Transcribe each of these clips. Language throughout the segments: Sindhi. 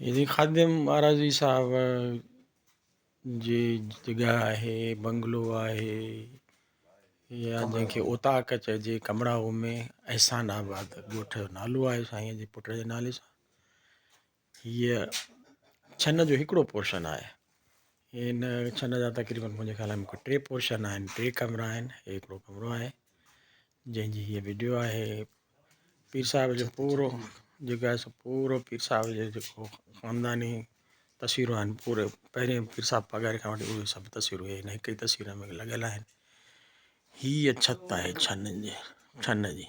يزيد خادم مھارزي صاحب جي جڳهه آهي بنگلو آهي يا جنهن کي اوطاق چئجي ڪمراو ۾ احسان آباد ڳوٺ جو نالو آهي سائين جي پٽ جي نالي سان هيء ڇنه جو هڪڙو پورشن آهي. هن ڇنه جا تقريبن منهنجي خيال ۾ ڪو ٽي پورشن آهن، ٽي ڪمرا آهن. هيء هڪڙو ڪمرو آهي، جنهن جي هيء وڊيو آهي. پير صاحب جو پورو جيڪو آهي سو پورو پير صاحب جو جيڪو خانداني تصويرون آهن، پوري پهرين پير صاحب پگهاري کان وٺي اهي سڀ تصويرون هيء هن هڪ ئي تصوير ۾ لڳل آهن. هيء ڇت آهي ڇنه جي، ڇنه جي.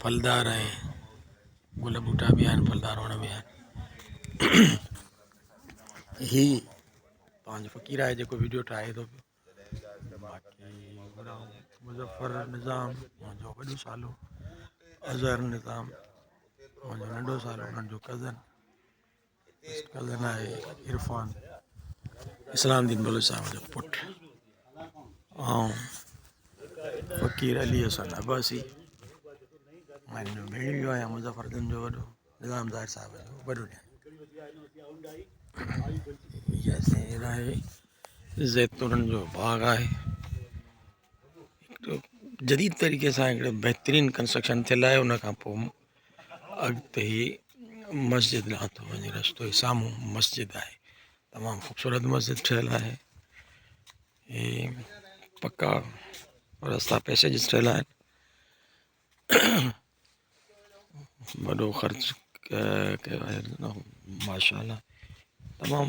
ڦلدار ۽ گل ٻوٽا به آهن ڦلدار وڻ به آهن هي پنهنجو فقير آهي جيڪو ويڊيو ٺاهي ٿو مظفر نظام منهنجو وڏو سالو اظهر نظام منهنجو ننڍو سالو منهنجو ڪزن اسلام الدين بلوچ صاحب جو پٽ آئون فقير علي حسن عباسي مان هن جو ڀيڻيو آهيان مظفر گنج جو وڏو نظام ظاهر صاحب جو وڏو ڏير يا سائين هيء آهي زيتونن جو باغ آهي جديد طريقي سان هڪڙو بهترين ڪنسٽرڪشن ٿيل آهي ان کان پوء اڳتي ئي مسجد ڏانهن ٿو وڃي رستو ئي سامهون مسجد آهي تمام خوبصورت مسجد ٺهيل آهي هي پڪا رستا پئسيجز ٺهيل آهن وڏو خرچ ڪيو آهي ماشاء الله تمام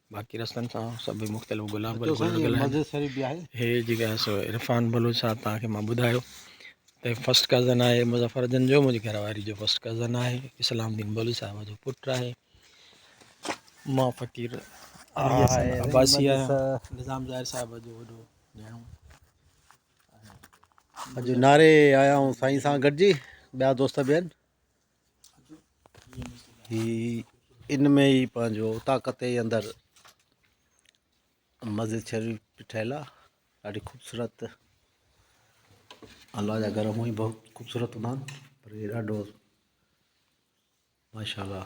باقي رستن سان سڀ مختلف گلاب گل لڳل آهن هي جيڪي آهي سو عرفان بلوچ صاحب تان کي مان ٻڌايو ته فرسٽ ڪزن آهي مظفر جن جو منهنجي گهر واري جو فرسٽ ڪزن آهي اسلام الدين بلوچ صاحب جو پٽ آهي مان فقير عباسي آهيان نظام ظاهر صاحب جو وڏو ڀيڻو اڄ ناري آيا آئون سائين سان گڏجي ٻيا دوست به آهن هي ان ۾ ئي پنهنجو طاقت جي اندر مسجد شريف به ٺهيل آهي ڏاڍي خوبصورت الله جا گهر هونئن به خوبصورت هوندا آهن پر هي ڏاڍو ماشاء الله